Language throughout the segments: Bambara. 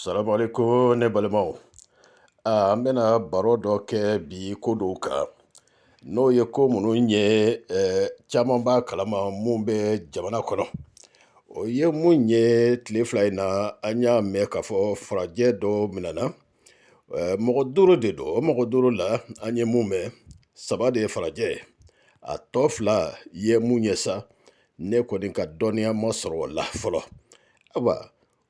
Salamu alaikum ne balimaw an bɛna baro dɔ kɛ bi ko dɔw kan n'o ye ko minnu ye caman b'a kalama mun bɛ jamana kɔnɔ o ye mun ye tile fila in na an y'a mɛn k'a fɔ farajɛ dɔ minɛna mɔgɔ duuru de don o mɔgɔ duuru la an ye mun mɛn saba de ye farajɛ a tɔ fila ye mun ye sa ne kɔni ka dɔnniya ma sɔrɔ o la fɔlɔ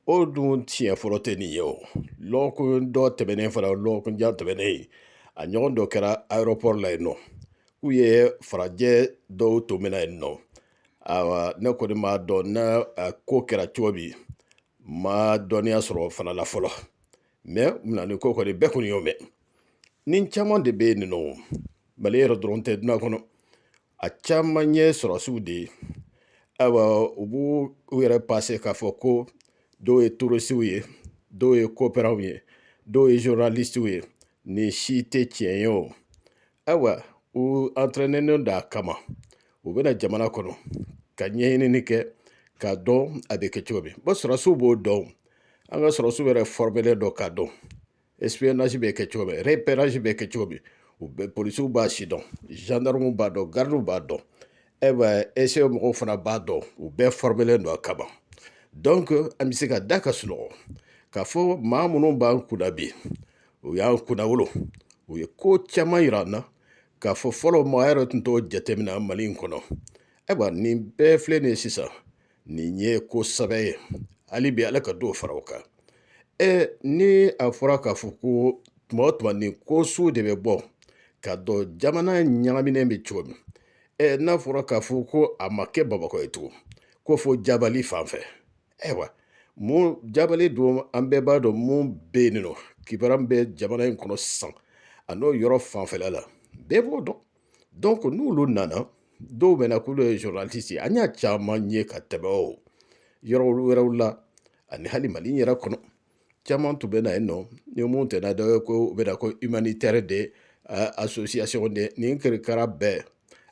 o dun tiɲɛ fɔlɔ tɛ nin ye o lɔgɔkun dɔ tɛmɛnen fana lɔgɔkun jan tɛmɛnen yen a ɲɔgɔn dɔ kɛra aéroport la yen nɔ k'u ye farajɛ dɔw tun minɛ yen nɔ ayiwa ne kɔni m'a dɔn n'a ko kɛra cogo min ma dɔnniya sɔrɔ o fana la fɔlɔ mais minɛni ko kɔni bɛɛ kɔni y'o mɛn nin caman de bɛ yen nɔ mali yɛrɛ dɔrɔn tɛ duniya kɔnɔ a caman ye sɔrɔsiw de ye ayiwa u b'u u yɛrɛ passe k'a fɔ ko dɔw ye touristiw ye dɔw ye coopérantw ye dɔw ye journalistiw ye nin si tɛ tiɲɛ ye o ayiwa u entraînenen don a kama u bɛ na jamana kɔnɔ ka ɲɛɲinini kɛ k'a dɔn a bɛ kɛ cogo min bon sɔrɔsiw b'o dɔn an ka sɔrɔsiw yɛrɛ fɔrɔmelen don k'a dɔn espionnage bɛ kɛ cogo min repérage bɛ kɛ cogo min polisiw b'a si dɔn zandaramuw b'a dɔn garidiw b'a dɔn e SE mɔgɔw fana b'a dɔn u bɛɛ fɔrɔmelen don a kama donc an bɛ se ka da ka sunɔgɔ k'a fɔ maa minnu b'an kunna bi u y'an kunnawolo u ye ko caman yira an na k'a fɔ fɔlɔ maa yɛrɛ tun t'o jateminɛ mali in kɔnɔ ayiwa nin bɛɛ filɛ nin ye sisan nin ye ko sɛbɛ ye hali bi ala ka dɔ fara o kan ɛ ni a fɔra k'a fɔ ko tuma o tuma nin ko sugu de bɛ bɔ k'a dɔn jamana ɲagaminen bɛ cogo min ɛ n'a fɔra k'a fɔ ko a ma kɛ bamakɔ ye tugun ko fo jabali fan fɛ ayiwa mun jabali don an bɛɛ b'a dɔn mun bɛ yen nɔ kibaran bɛ jamana in kɔnɔ sisan a n'o yɔrɔ fanfɛla la bɛɛ b'o dɔn n'olu nana dɔw bɛ na k'olu ye journaliste ye an y'a caman ye ka tɛmɛ o yɔrɔ wɛrɛw la ani hali mali yɛrɛ kɔnɔ caman tun bɛ na yen nɔ ni mun tɛna dɔ ye ko u bɛ na ko humanitaire des association de nin kirikara bɛɛ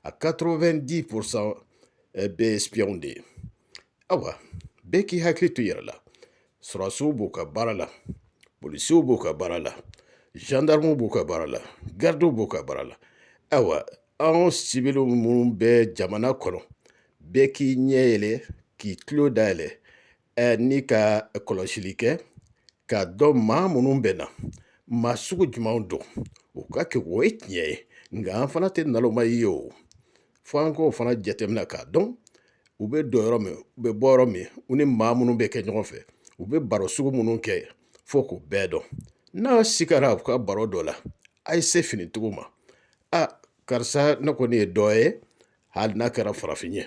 a quatre-vingt-dix pourcent bɛɛ espionw de ye ayiwa bɛɛ k'i hakili to i yɛrɛ la sɔrɔsiw b'u ka baara la polisiw b'u ka baara la zandaramuw b'u ka baara la garidiw b'u ka baara la ayiwa anw sibiliw minnu bɛ jamana kɔnɔ bɛɛ k'i ɲɛ yɛlɛ k'i tulo dayɛlɛ ni ka kɔlɔsili kɛ k'a dɔn maa minnu bɛ na maa sugu jumɛnw don u ka kegun o ye tiɲɛ ye nka an fana tɛ naloma ye o fo an k'o fana jateminɛ k'a dɔn u bɛ don yɔrɔ min u bɛ bɔ yɔrɔ min u ni maa minnu bɛ kɛ ɲɔgɔn fɛ u bɛ baro sugu minnu kɛ fo k'u bɛɛ dɔn n'a sigara u ka baro dɔ la a ye se finitigiw ma a karisa ne kɔni ye dɔ ye hali n'a kɛra farafin ye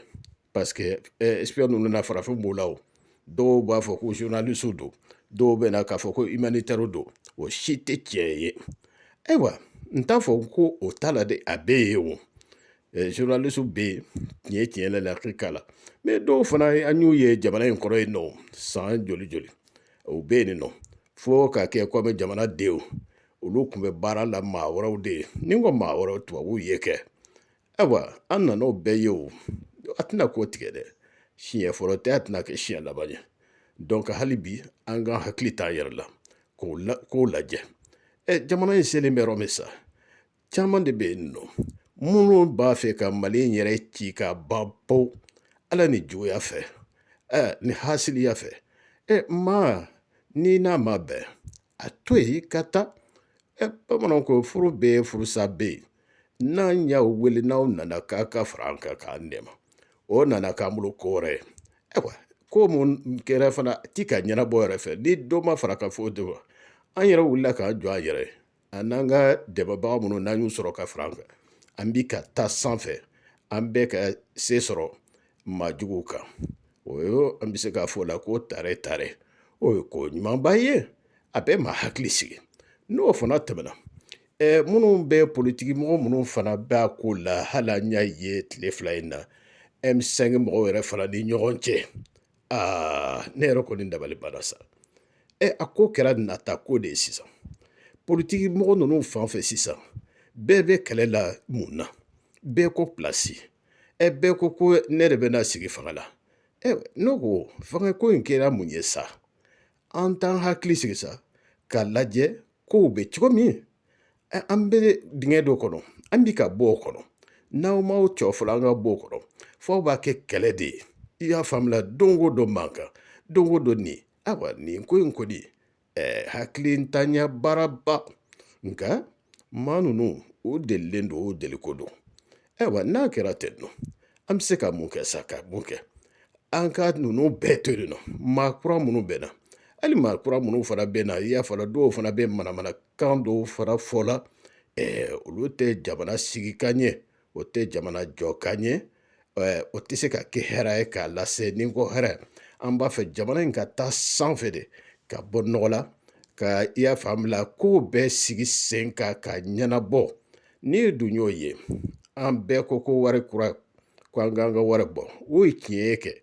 paseke espion ninnu na farafin b'u la o dɔw b'a fɔ ko journalistes don dɔw bɛ na k'a fɔ ko humanitaires don o si tɛ tiɲɛ ye ayiwa n t'a fɔ ko o t'a la dɛ a bɛɛ ye o journalistes bɛ yen tiɲɛ tiɲɛ lakika la mɛ dɔw fana an y'u ye jamana in kɔrɔ yen nɔ san joli joli o bɛ yen nɔ fo k'a kɛ komi jamana denw olu tun bɛ baara la maa wɛrɛw de ye ni n ko maa wɛrɛw tubabuw ye kɛ Ayiwa an nana o bɛɛ ye o a tɛna k'o tigɛ dɛ siɲɛ fɔlɔ tɛ a tɛna kɛ siɲɛ laban ye dɔnku hali bi an ka hakili t'an yɛrɛ la k'o la k'o lajɛ ɛ jamana in selen bɛ yɔrɔ min sa caman de bɛ yen nɔ minnu b'a fɛ ka mali in yɛrɛ ci ka ban pewu ala ni juguya fɛ ɛ ni hasiliya fɛ ɛ maa n'i n'a ma bɛn a to yen ka taa ɛ bamananw ko furu bɛ furusa bɛ yen n'an y'aw wele n'aw nana k'a ka fara an kan k'an dɛmɛ o nana k'an bolo ko wɛrɛ ye ayiwa ko mun kɛra fana ti ka ɲɛnabɔ yɛrɛ fɛ ni dɔ ma fara ka fɔ de an yɛrɛ wulila k'an jɔ an yɛrɛ ye an n'an ka dɛmɛbaga minnu n'an y'u sɔrɔ ka fara an kan an bi ka taa sanfɛ an bɛ ka se sɔrɔ maa juguw kan o ye an bɛ se k'a fɔ o la ko tare tare o ye ko ɲumanba ye a bɛ maa hakili sigi n'o fana tɛmɛna minnu bɛ politiki mɔgɔ minnu fana bɛ a ko la hali an y'a ye tile fila in na M5 mɔgɔw yɛrɛ fana ni ɲɔgɔn cɛ aa ne yɛrɛ kɔni dabali banna sa ɛ a ko kɛra nata ko de ye sisan politiki mɔgɔ ninnu fan fɛ sisan bɛɛ bɛ kɛlɛ la mun na bɛɛ ko pilasi ɛ bɛɛ ko ko ne yɛrɛ bɛ na sigi fanga la ne ko fanga ko in kɛra mun ye sa an t'an hakili sigi sa k'a lajɛ kow bɛ cogo min an bɛ dingɛ dɔ kɔnɔ an bi ka bɔ o kɔnɔ n'aw m'aw jɔ fɔlɔ an ka bɔ o kɔnɔ f'aw b'a kɛ kɛlɛ de ye i y'a faamuya don o don mankan don o don nin ayiwa nin ko in kɔni ɛɛ hakilintanya baaraba nka maa ninnu u delilen don o deliko don ayiwa n'a kɛra ten nɔ an bɛ se ka mun kɛ sa ka mun kɛ an ka ninnu bɛɛ to yen nɔ maa kura minnu bɛ na hali maa kura minnu fana bɛ na i y'a fɔ dɔw fana bɛ manamanakan dɔw fana fɔ la olu tɛ jamana sigi ka ɲɛ o tɛ jamana jɔ ka ɲɛ o tɛ se ka kɛ hɛrɛ ye k'a lase ni ko hɛrɛ an b'a fɛ jamana in ka taa sanfɛ de ka bɔ nɔgɔ la ka i y'a faamuya ko bɛɛ sigi sen kan ka ɲɛnabɔ n'i dun y'o ye an bɛɛ ko ko wari kura ko an k'an ka wari bɔ o ye tiɲɛ ye kɛ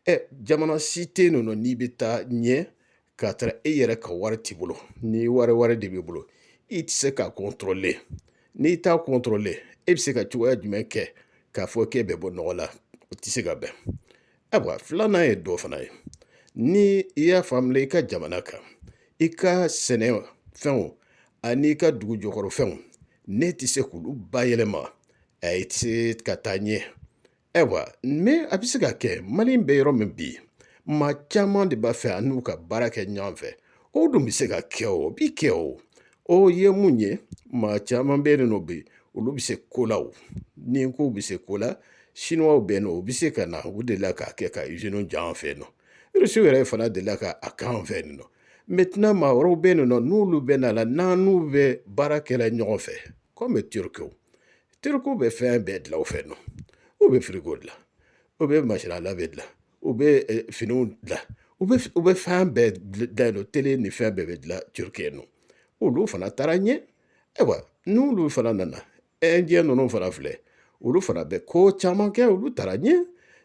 ɛ jamana si tɛ yen nɔ n'i bɛ taa ɲɛ k'a tara e yɛrɛ ka wari t'i bolo ni wari wɛrɛ de b'i bolo i tɛ se k'a kɔntorole n'i t'a kɔntorole e bɛ se ka cogoya jumɛn kɛ k'a fɔ k'e bɛ bɔ nɔgɔ la o tɛ se ka bɛn ayiwa filanan ye dɔ fana ye ni i y'a faamuya i ka jamana kan i ka sɛnɛ fɛnw ani i ka dugu jɔkɔrɔ fɛnw n'i tɛ se k'olu bayɛlɛma a i tɛ se ka taa ɲɛ ayiwa mɛ a bɛ se ka kɛ mali bɛ yɔrɔ min bi maa caman de b'a fɛ an n'u ka baara kɛ ɲɔgɔn fɛ o dun bɛ se ka kɛ o bi kɛ o ye mun ye maa caman bɛ yen nɔ bi olu bɛ se ko la o ni ko bɛ se ko la siniwaw bɛ yen nɔ u bɛ se ka na u delila k'a kɛ ka iziniw jɔ an fɛ yen nɔ irisiw yɛrɛ fana delila k'a k'an fɛ yen nɔ maintenant maa wɛrɛw bɛ yen nɔ n'olu bɛ na la n'an n'u bɛ baara kɛla ɲɔgɔn fɛ kɔmi turukiw tirikiw bɛ fɛn bɛɛ dilan o fɛ nɔ u bɛ firigo dilan u bɛ machine à laver dilan u bɛ finiw dilan u bɛ u bɛ fɛn bɛɛ dilan yen nɔ tele ni fɛn bɛɛ bɛ dilan turuki yen nɔ olu fana taara ɲɛ ayiwa n'olu fana nana ɛnjɛ ninnu fana filɛ olu fana bɛ ko caman kɛ olu taara ɲɛ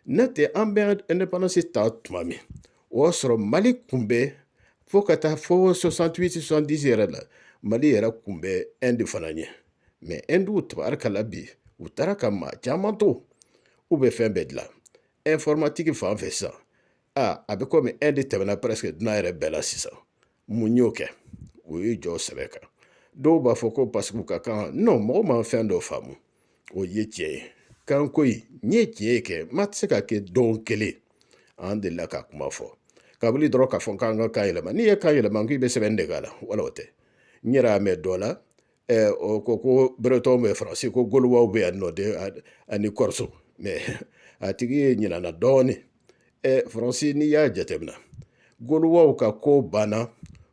n'o tɛ an bɛ indépendance ta tuma min o y'a sɔrɔ mali kun bɛ fo ka taa fo sɔsantuwiti sɔsandisi yɛrɛ la mali yɛrɛ kun bɛ Inde fana ɲɛ mɛ ɛnduw tabarikala bi u taara ka maa caman to u bɛ fɛn bɛɛ dilan informatique fan fɛ sisan aa a bɛ komi Inde tɛmɛna presque duniya yɛrɛ bɛɛ la sisan mun y'o kɛ o ye jɔ sɛbɛ kan dɔw b'a fɔ ko paseke u ka kan non mɔgɔ ma fɛn dɔ faamu o ye tiɲɛ ye kanko in n ye tiɲɛ ye kɛ mɛ a tɛ se ka kɛ don kelen an delila ka kuma fɔ kabili dɔrɔn k'a fɔ k'an ka kan yɛlɛma n'i ye kan yɛlɛma k'i bɛ sɛbɛnni de k'a la wala o tɛ n yɛrɛ y'a mɛn dɔ la o ko ko beretɔn bɛ faransi ko golowaw bɛ yan nɔ de ani kɔrɔso mɛ a tigi ye ɲinana dɔɔnin faransi n'i y'a jateminɛ golowaw ka ko banna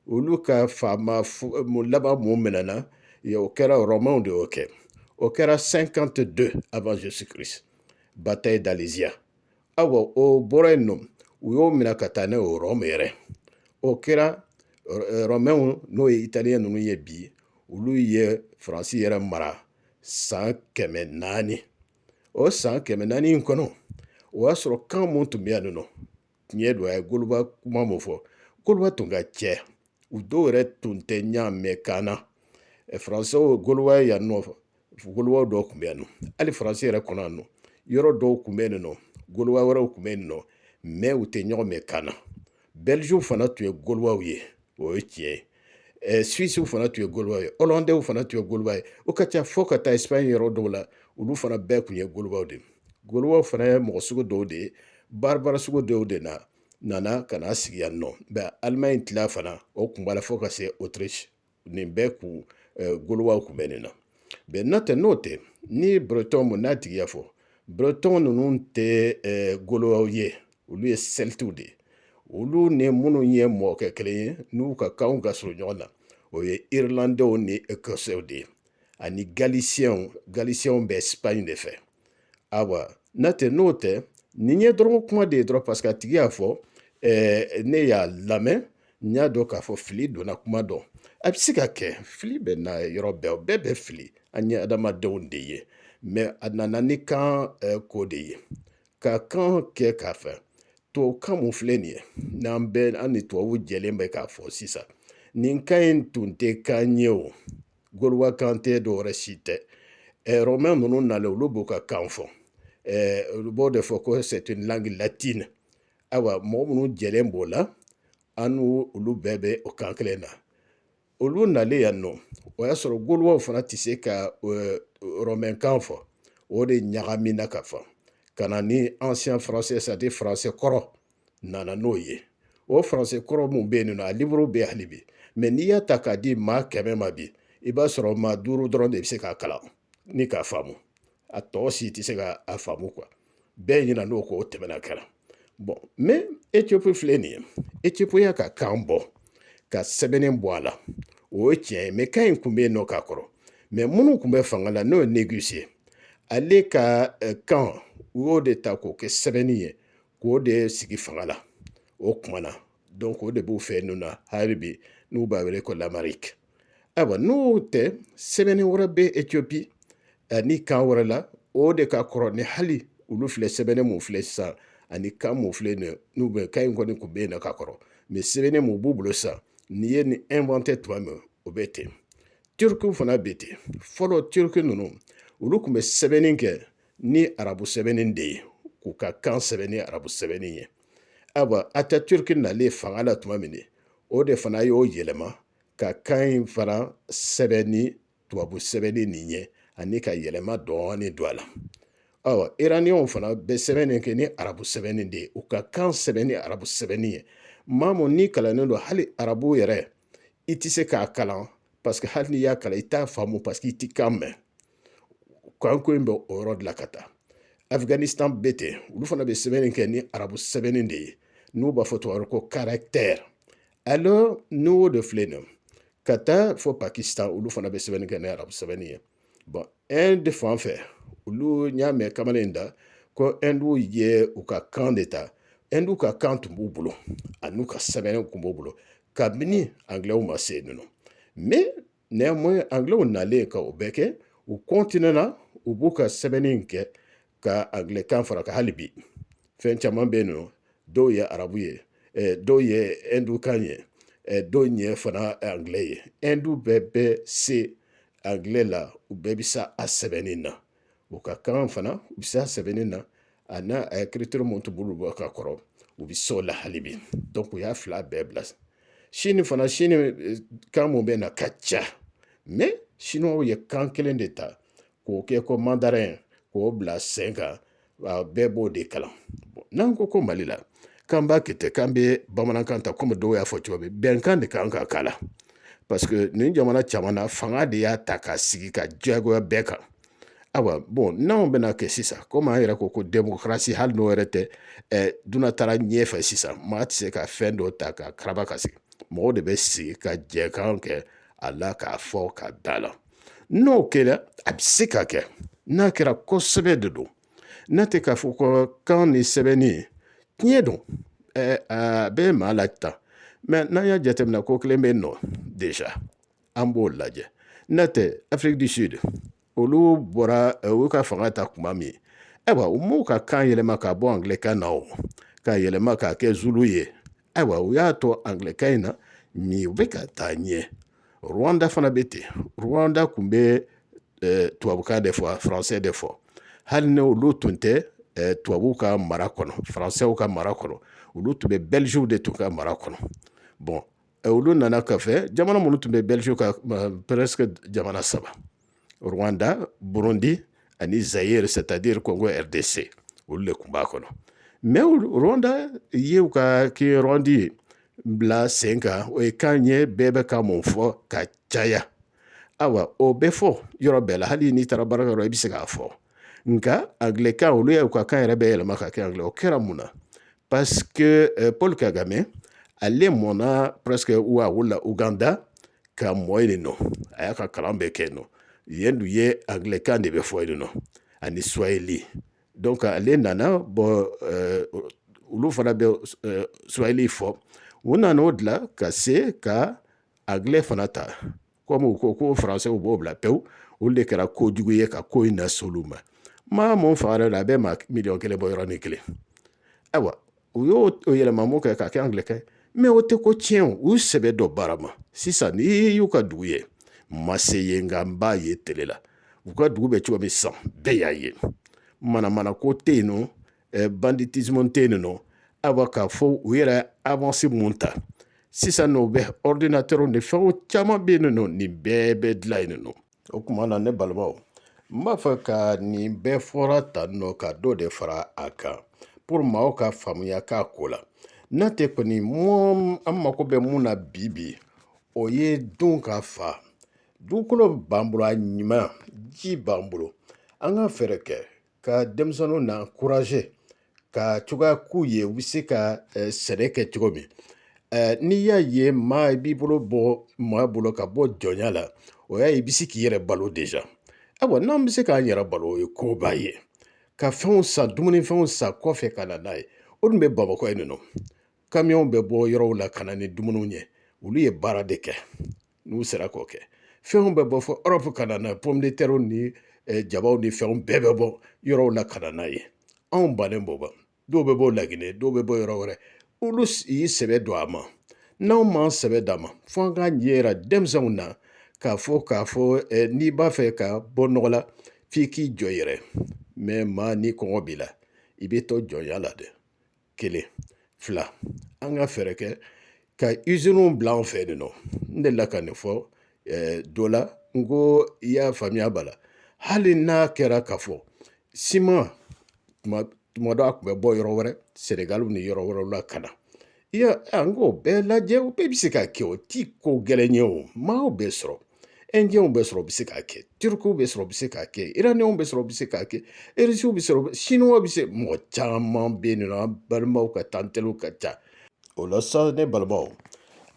olu ka faama laban mun minɛna o kɛra rɔmɛw de y'o kɛ o kɛra cinquante-deux avant Jésus Christ bataille d'Alésia ayiwa o bɔra yen nɔ u y'o minɛ ka taa n'o ye Rome yɛrɛ o kɛra rɔmɛw n'o ye italiyɛn ninnu ye bi olu ye faransi yɛrɛ mara san kɛmɛ naani o san kɛmɛ naani in kɔnɔ o y'a sɔrɔ kan mun tun bɛ yan nɔ tiɲɛ don a ye golowa kuma mun fɔ golowa tun ka cɛ u dɔw yɛrɛ tun tɛ ɲɔgɔn mɛn kan na faransɛw golowa yan nɔ golowa dɔw tun bɛ yan nɔ hali faransi yɛrɛ kɔnɔ yan nɔ yɔrɔ dɔw tun bɛ yen nɔ golowa wɛrɛw tun bɛ yen nɔ mɛ u tɛ ɲɔgɔn mɛn kan na bɛliziw fana tun ye golowaw ye o ye tiɲɛ ye suwisiw fana tun ye golowa ye ɔlandɛw fana tun ye golowa ye o ka ca fo ka taa sipaɲi yɔrɔ dɔw la olu fana bɛɛ tun ye golowaw de ye golowaw fana ye mɔgɔ sugu dɔw de ye baribari sugu dɔw de na nana ka na sigi yan nɔ mɛ alimaɲi tila fana o kun b'a la fo ka se otirisi nin bɛɛ kun golowaw kun bɛ nin na mɛ n'o tɛ n'o tɛ ni burutɔn mun n'a tigi y'a fɔ burutɔn ninnu tɛ golowaw ye olu ye sɛlitiw de ye olu ni minnu ye mɔkɛ kelen ye n'u ka kanw ka surun ɲɔgɔn na o ye irilandɛw ni ekɔsɛw de ye ani galisiyɛnw galisiyɛnw bɛ sipaɲi de fɛ ayiwa n'a tɛ n'o tɛ nin ye dɔrɔn kuma de ye dɔrɔn paseke a tigi y'a fɔ ne y'a lamɛn n y'a dɔn k'a fɔ fili donna kuma dɔn a bɛ se ka kɛ fili bɛ na yɔrɔ bɛɛ o bɛɛ bɛ fili an ye adamadenw de ye mɛ a nana ni kan ko de ye ka kan kɛ k'a fɛ tubabukan mun filɛ nin ye n'an bɛɛ an ni tubabuw jɛlen bɛ k'a fɔ sisan nin kan in tun tɛ kan ye o Golowa kan tɛ dɔwɛrɛ si tɛ rɔmɛn ninnu nalen olu b'u ka kan fɔ olu b'o de fɔ ko c'est une langue latine ayiwa mɔgɔ minnu jɛlen b'o la an n'olu bɛɛ bɛ o kan kelen na olu nalen yan nɔ o y'a sɔrɔ golowaw fana tɛ se ka rɔmɛnkan fɔ o de ɲagamina ka fɔ ka na ni ancien français c'est-à-dire faransɛ kɔrɔ nana n'o ye o faransɛ kɔrɔ mun bɛ yen nɔ a liburu bɛ hali bi mɛ n'i y'a ta k'a di maa kɛmɛ ma bi i b'a sɔrɔ maa duuru dɔrɔn de bɛ se k'a kalan ni k'a faamu a tɔ si tɛ se ka a faamu kuwa bɛɛ ɲinan'o kɔ o tɛmɛna kɛra bɔn mɛ etiyopi filɛ nin ye etiyopi y'a ka kan bɔ ka sɛbɛnni bɔ a la o ye tiɲɛ ye mɛ kan in tun bɛ yen nɔ ka kɔrɔ mɛ minnu tun bɛ fanga la n'o ye negisi ye ale ka eh, kan u y'o de ta k'o kɛ sɛbɛnni ye k'o de sigi fanga la o kuma na dɔn o de b'u fɛ n'u na hali bi n'u b'a wele ko lamariki ayiwa n'o tɛ sɛbɛnni wɛrɛ bɛ etiyopi ani kan wɛrɛ la o de ka kɔrɔ ni hali olu filɛ sɛbɛnni mun filɛ sisan ani kan mun filɛ nin n'u bɛ kan in kɔni tun bɛ yen nɔ ka kɔrɔ mɛ sɛbɛnni mun b'u bolo sisan n'i ye nin ɛnvante tuma min o bɛ ten tirikiw fana bɛ ten fɔlɔ tiriki ninnu olu tun bɛ sɛbɛnni kɛ ni arabu sɛbɛnni de ye k'u ka kan sɛbɛn ni arabu sɛbɛnni ye ayiwa ataturki nalen fanga la tuma min o de fana y'o yɛlɛma ka kan in fana sɛbɛn ni tubabu sɛbɛnni nin ye ani ka yɛlɛma dɔɔnin don a la ayiwa iraniyanw fana bɛ sɛbɛnni kɛ ni arabu sɛbɛnni de ye u ka kan sɛbɛn ni arabu sɛbɛnni ye maa mun n'i kalannen don hali arabu yɛrɛ i tɛ se k'a kalan paseke hali n'i y'a kalan i t'a faamu paseke i tɛ kan mɛn kanko in bɛ o yɔrɔ de la ka taa Afghanistan bɛ ten olu fana bɛ sɛbɛnni kɛ ni arabu sɛbɛnni de ye n'u b'a fɔ tubabu ko caractère alors n'o de filɛ nin ka taa fɔ Pakistan olu fana bɛ sɛbɛnni kɛ ni arabu sɛbɛnni ye bon Inde fan fɛ olu n y'a mɛn kamalen in da ko hindu ye u ka kan de ta hindu ka kan tun b'u bolo ani n'u ka sɛbɛnni tun b'u bolo kabini anglaisw ma se yen nɔ Néanmoins anglais nalen ka o bɛɛ kɛ u continuer na u b'u ka sɛbɛnni in kɛ ka anglais kan fara ka hali bi fɛn caman bɛ yen nɔ dɔw ye arabu ye eh, dɔw ye hindu kan ye eh, dɔw ye fana anglais ye hindu bɛɛ bɛ se anglais la u bɛɛ bɛ se a sɛbɛnni na u ka kan fana u bɛ se a sɛbɛnni na a n'a écriture mun tun b'olu bolo ka kɔrɔ u bɛ se o la hali bi dɔnku u y'a fila bɛɛ bila sini fana sini eh, kan minnu bɛ na ka ca mɛ siniwaw ye kan kelen de ta k'o kɛ ko mandarin k'o bila sen kan bɛɛ b'o de kalan n'an ko ko mali la k'an b'a kɛ ten k'an bɛ bamanankan ta kɔmi dɔw y'a fɔ cogo min bɛnkan de kan ka k'a la parce que nin jamana caman na fanga de y'a ta k'a sigi ka diyagoya bɛɛ kan ayiwa bɔn n'anw bɛna kɛ sisan komi an yɛrɛ ko ko démocratie hali n'o yɛrɛ tɛ ɛ duniɲa taara ɲɛfɛ sisan maa tɛ se ka fɛn dɔ ta ka karaba ka sigi mɔgɔw de bɛ sigi ka jɛkan kɛ a la k'a fɔ ka da la n'o kɛra a bɛ se ka kɛ n'a kɛra ko sɛbɛ de don n'a tɛ k'a fɔ ko kan ni sɛbɛnni tiɲɛ don a bɛ maa lataa mɛ n'an y'a jateminɛ ko kelen bɛ yen nɔ déjà an b'o lajɛ n'a tɛ Afrique du Sud olu bɔra u ka fanga ta kuma min ayiwa u m'u ka kan yɛlɛma ka bɔ angilɛkan na o ka yɛlɛma k'a kɛ zulu ye ayiwa u y'a to angilɛkan in na mɛ u bɛ ka taa ɲɛ rwanda fana bɛ ten rwanda tun bɛ tubabukan de fɔ a faransɛ de fɔ hali ni olu tun tɛ tubabuw ka mara kɔnɔ faransɛw ka mara kɔnɔ olu tun bɛ belgiw de tun ka mara kɔnɔ bɔn olu nana kɔfɛ jamana minnu tun bɛ belgiw ka presque jamana saba Rwanda, Burundi ani Zaire c'est-à-dire Congo RDC olu de tun b'a kɔnɔ mais Rwanda ye u ka kinyarwanda bila sen kan o ye kan ye bɛɛ bɛ kan mun fɔ ka caya awa o bɛ fɔ yɔrɔ bɛɛ la hali n'i taara baarakɛyɔrɔ i bɛ se k'a fɔ nka anglɛkan olu y'u ka kan yɛrɛ bɛɛ yɛlɛma ka kɛ anglɛ o kɛra mun na parce que euh, Paul Kagame ale mɔna presque ou a wolola Ouganda ka mɔ yen nɔ a y'a ka kalan bɛɛ kɛ yen nɔ yen dun ye anglɛkan de bɛ fɔ yen nɔ ani swahili donc ale nana bon euh, olu fana bɛ euh, swahili fɔ u nana o dila ka se ka anglɛ fana ta kɔmi u ko ko faransɛ u b'o bila pewu olu de kɛra ko jugu ye ka ko in nase olu ma maa mun faga yɛrɛ la a bɛ maa miliyɔn kelen bɔ yɔrɔnin kelen ayiwa u y'o yɛlɛma mun kɛ k'a kɛ anglɛkan mais o tɛ ko tiɲɛ u sɛbɛ don baara ma sisan n'i y'u ka dugu ye n ma se yen nka n b'a ye tele la u ka dugu bɛ cogo min sa bɛɛ y'a ye manamana ko tɛ yen nɔ banditisme tɛ yen nɔ awa k'a fɔ u yɛrɛ avance mun ta sisan n'o bɛ ordinateur ni fɛn caman bɛ yen nɔ nin bɛɛ bɛ dilan yen nɔ o tuma na ne balimaw n b'a fɛ ka nin bɛɛ fɔra tan nɔ ka dɔ de fara a kan pour maaw ka faamuya k'a ko la n'a tɛ kɔni mɔ an mako bɛ mun na bi bi o ye dunkafa dugukolo b'an bolo a ɲuman ji b'an bolo an ka fɛɛrɛ kɛ ka denmisɛnninw na encourager ka cogoya k'u ye u bɛ se ka sɛnɛ kɛ cogo min n'i y'a ye maa i b'i bolo bɔ maa bolo ka bɔ jɔnya la o y'a ye i bɛ se k'i yɛrɛ balo déjà ayiwa n'an bɛ se k'an yɛrɛ balo o ye koba ye ka fɛnw san dumunifɛnw san kɔfɛ ka na n'a ye o dun bɛ bamakɔ yen nɔ kamiyɔnw bɛ bɔ yɔrɔw la ka na ni dumuniw ye olu ye baara de kɛ n'u sera k'o kɛ fɛnw bɛ bɔ fɔ Europe ka na n'a ye pomme de terre ni eh, jabaw ni fɛnw bɛɛ bɛ bɔ yɔrɔw la ka na n'a ye anw bannen b'o ma dɔw bɛ bɔ lagine dɔw bɛ bɔ yɔrɔ wɛrɛ olu y'i sɛbɛ don a ma n'anw m'an sɛbɛ d'a ma fo an k'a ɲɛ yira denmisɛnw na k'a fɔ k'a fɔ eh, n'i b'a fɛ ka bɔ nɔgɔ la f'i k'i jɔ yɛrɛ mais maa ni kɔngɔ b'i la i bɛ to jɔnya la dɛ kelen fila an ka fɛɛrɛ kɛ ka usine bila an fɛ yen nɔ n delila ka nin fɔ dɔ la n ko i y'a faamuya ba la hali n'a kɛra k'a fɔ siman tuma dɔ a tun bɛ bɔ yɔrɔ wɛrɛ sɛnɛgali ni yɔrɔ wɛrɛw la ka na i y'a an k'o bɛɛ lajɛ o bɛɛ bɛ se ka kɛ o ti ko gɛlɛn ye o maaw bɛ sɔrɔ ɛndiyɛnw bɛ sɔrɔ u bɛ se k'a kɛ turukiw bɛ sɔrɔ u bɛ se k'a kɛ iraniyɛnw bɛ sɔrɔ u bɛ se k'a kɛ irisiw bɛ sɔrɔ siniwaw bɛ se mɔgɔ caman bɛ yen nɔ an balimaw ka ca an teriw ka ca o la sa ne balimaw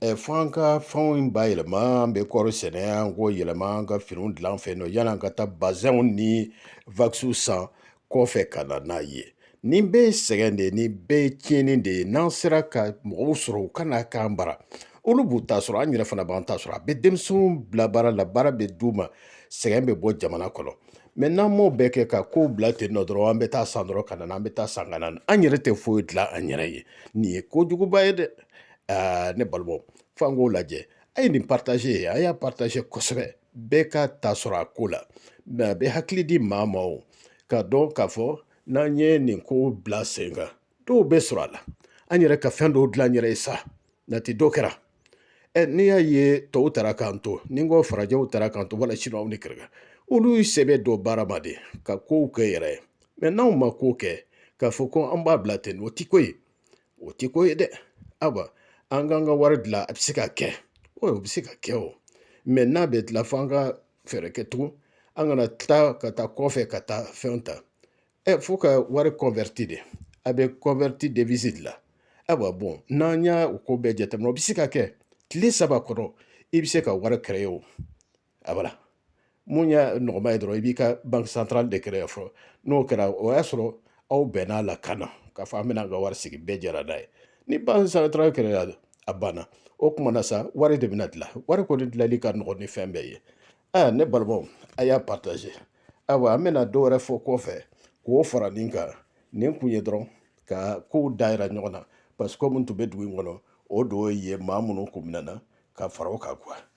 ɛ fo an ka fɛnw in bayɛlɛma an bɛ kɔɔri sɛnɛ an k'o yɛlɛma an ka finiw dilan an fɛ yan nɔ yann'an ka taa bazɛnw ni wakisiw san kɔfɛ ka na n'a ye nin bɛɛ ye sɛgɛn de ye nin bɛɛ ye tiɲɛni de ye n'an sera ka mɔgɔw sɔrɔ u ka n'a k'an bara olu b'u ta sɔrɔ an yɛrɛ fana b'an ta sɔrɔ a bɛ denmisɛnninw bila baara la baara bɛ d'u ma sɛgɛn bɛ bɔ jamana kɔnɔ mɛ n'an m'o bɛɛ kɛ ka kow bila ten nɔ dɔrɔn an bɛ taa san dɔrɔn ka na an bɛ taa san ka na an yɛrɛ tɛ foyi dilan an yɛrɛ ye nin ye kojuguba ye dɛ ne balimaw f'an k'o lajɛ a ye nin partaze ye a y'a partaze kosɛbɛ bɛɛ ka ta sɔrɔ a ko la mɛ a bɛ hakili di maa ma o k'a dɔn k'a fɔ n'an ye nin ko bila sen kan dɔw bɛ sɔrɔ a la an yɛrɛ ka fɛn dɔw dilan an yɛrɛ ye sa nati dɔ kɛra ɛ n'i y'a ye tɔw taara k'an to ni n ko farajɛw taara k'an to wala siniwaw ni kɛrɛkɛ olu sɛbɛ don baara ma de ka kow kɛ u yɛrɛ ye mɛ n'anw ma ko kɛ k'a fɔ ko an b'a bila ten o ti ko ye o ti ko ye dɛ ayiwa an k'an ka wari dilan a bɛ se ka kɛ o bɛ se ka kɛ o mɛ n'a bɛ dilan fo an ka fɛɛrɛ kɛ tugun an kana tila ka taa kɔfɛ ka taa fɛnw ta fo ka wari converti de a bɛ converti devise de la ayiwa bon n'an y'a ko bɛɛ jateminɛ o bɛ se ka kɛ tile saba kɔnɔ i bɛ se ka wari créer o a bala mun y'a nɔgɔman ye dɔrɔn i b'i ka banque centrale de créer fɔlɔ n'o kɛra o y'a sɔrɔ aw bɛnn'a la ka na k'a fɔ an bɛna an ka wari sigi bɛɛ jɛra n'a ye ni banque centrale kɛra a banna o tuma na sa wari de bɛna dilan wari kɔni dilanli ka nɔgɔn ni fɛn bɛɛ ye aa ne balimaw a y'a partaze ayiwa an bɛna dɔ wɛrɛ fɔ kɔfɛ k'o fara nin kan nin kun ye dɔrɔn ka kow dayɛlɛ ɲɔgɔn na parce que komi n tun bɛ dugu in kɔnɔ o don ye maa minnu kun minɛna ka fara o kan kuwa